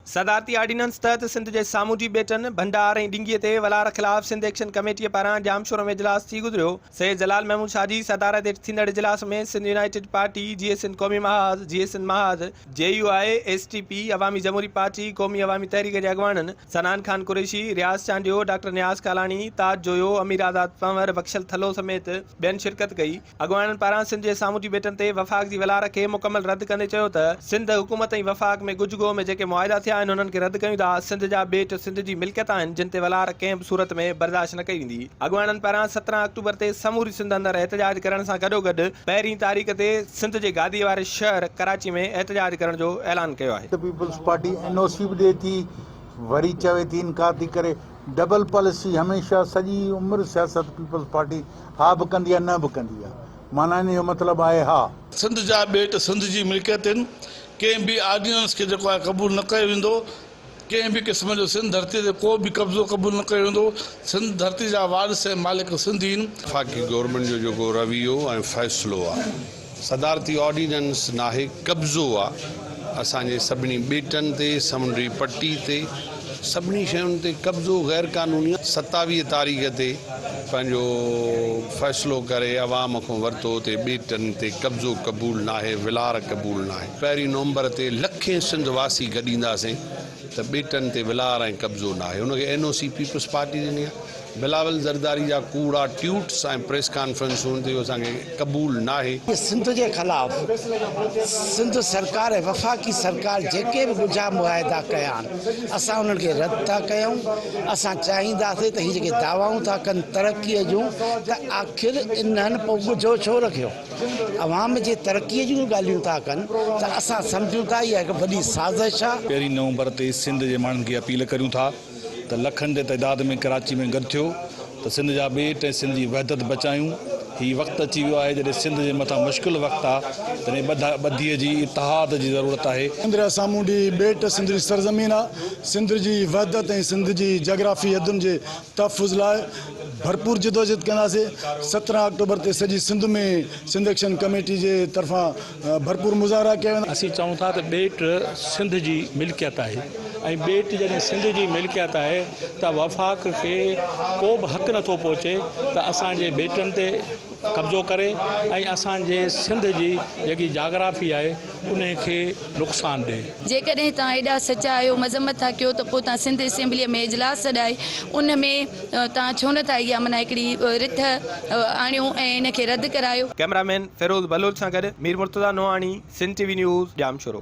صدارتي آرڊيننس تحت سنڌ جي سامونڊي ٻيٽن، ڀنڊار ۽ ڊنگيء تي ولار خلاف سنڌ ايڪشن ڪميٽيء پاران ڄامشورو ۾ اجلاس ٿي گذريو. سيد جلال محمود شاهه جي صدارت هيٺ ٿيندڙ اجلاس ۾ Sindh united party, J S N Qaumi Mahaz, J S N Mahaz, J U I, S T P, Awami Jamhoori party, Qaumi Awami Tehreek جي اڳواڻن سنان خان قريشي، رياض چانڊيو، ڊاڪٽر نياز ڪالاڻي، تاج جويو، امير آزاد پنهور، بخشل ٿلهو سميت ٻين شرڪت ڪئي. اڳواڻن پاران سنڌ جي سامونڊي ٻيٽن تي وفاق جي ولار کي مڪمل رد ڪندي چيو ته سنڌ حڪومت ۽ وفاق ۾ ڳجهه گوهه ۾ جيڪي معاهدا ٿيا آهن انهن کي رد ڪيون ٿا، سنڌ جا ٻيٽ سنڌ جي ملڪيت آهن جن تي ولار ڪنهن به صورت ۾ برداشت نه ڪئي ويندي. اڳواڻن پاران سترهن آڪٽوبر تي سموري سنڌ اندر احتجاج ڪرڻ سان گڏوگڏ پهرين تاريخ تي سنڌ جي گادي واري شهر ڪراچي ۾ احتجاج ڪرڻ جو اعلان ڪيو آهي. Sindh peoples party N O C به ڏئي ٿي وري چوي ٿي انڪار ٿي ڪري ڊبل پاليسي هميشه سڄي عمر سياست پيپلز پارٽي ها به ڪندي آهي نه به ڪندي آهي معنيٰ ان جو مطلب آهي ها. سنڌ جا ٻيٽ سنڌ جي ملڪيت هن ڪنهن به آرڊيننس کي جيڪو آهي قبول نه ڪيو ويندو ڪنهن به قسم جو سنڌ ڌرتي تي ڪو به قبضو قبول نه ڪيو ويندو سنڌ ڌرتي جا وارث ۽ مالڪ سنڌ ئي هن. وفاقي گورنمينٽ جو جيڪو رويو ۽ فيصلو آهي. صدارتي آرڊيننس ناهي قبضو آ اسان جي سڀني ٻيٽن تي سمنڊي پٽي تي سڀني شين تي قبضو غير قانوني آ ستاويهه تاريخ تي پنهنجو فيصلو ڪري عوام کون ورتو تي ٻيٽن تي قبضو قبول ناهي ولار قبول ناهي پهرين نومبر تي لکين سنڌ واسي گڏينداسين ته ٻيٽن تي ولار ۽ قبضو ناهي ان کي N O C peoples party ڏني آ. بلاول زرداري جا ڪوڙا ٽيوٽس ۽ پريس ڪانفرنسون تي اهو اسان کي قبول ناهي. سنڌ جي خلاف سنڌ سرڪار ۽ وفاقي سرڪار جيڪي به ڳجها معاهدا ڪيا آهن اسان انهن کي رد ٿا ڪيون اسان چاهينداسين ته هي جيڪي دعوائون ٿا ڪن ترقي جون ته آخر انهن پوء ڳجهو ڇو رکيو عوام جي ترقي جون ڳالهيون ٿا ڪن ته اسان سمجهون ٿا اها هڪ وڏي سازش آهي. پهرين نومبر تي سنڌ جي ماڻهن کي اپيل ڪريون ٿا. ته لکن جي تعداد ۾ ڪراچي ۾ گڏ ٿيو ته سنڌ جا ٻيٽ ۽ سنڌ جي وحدت بچايون هي وقت اچي ويو آهي جڏهن سنڌ جي مٿان مشڪل وقت آ تڏهن ٻڌ ٻڌي جي اتحاد جي ضرورت آهي. سنڌ جا سامونڊي ٻيٽ سنڌ جي سرزمين آ سنڌ جي وحدت ۽ سنڌ جي جاگرافي حدن جي تحفظ لاء ڀرپور جدوجهد ڪنداسي سترهن آڪٽوبر تي سڄي سنڌ ۾ سنڌ ايڪشن ڪميٽي جي طرفان ڀرپور مظاهرا ڪيا ويندا. اسين چئون ٿا ته ٻيٽ سنڌ جي ملڪيت آهي ۽ ٻيٽ جڏهن سنڌ جي ملڪيت آهي ته وفاق کي ڪو به حق نٿو پهچي ته اسان جي ٻيٽن تي قبضو ڪري ۽ اسان جي سنڌ جي جيڪي جاگرافي آهي انهي کي نقصان ڏي. جيڪڏهن توهان ايڏا سچا آهيو مذمت ٿا ڪيو ته پوء توهان سنڌ اسيمبليء ۾ اجلاس سڏائي ان ۾. تان ڇو نه ٿا اها معنيٰ هڪڙي رٿ آڻيو ۽ ان کي رد ڪرايو. ڪئميرا مين فيروز بلوچ سان گڏ Mir Murtaza Nohani, Sindh T V news, Jamshoro.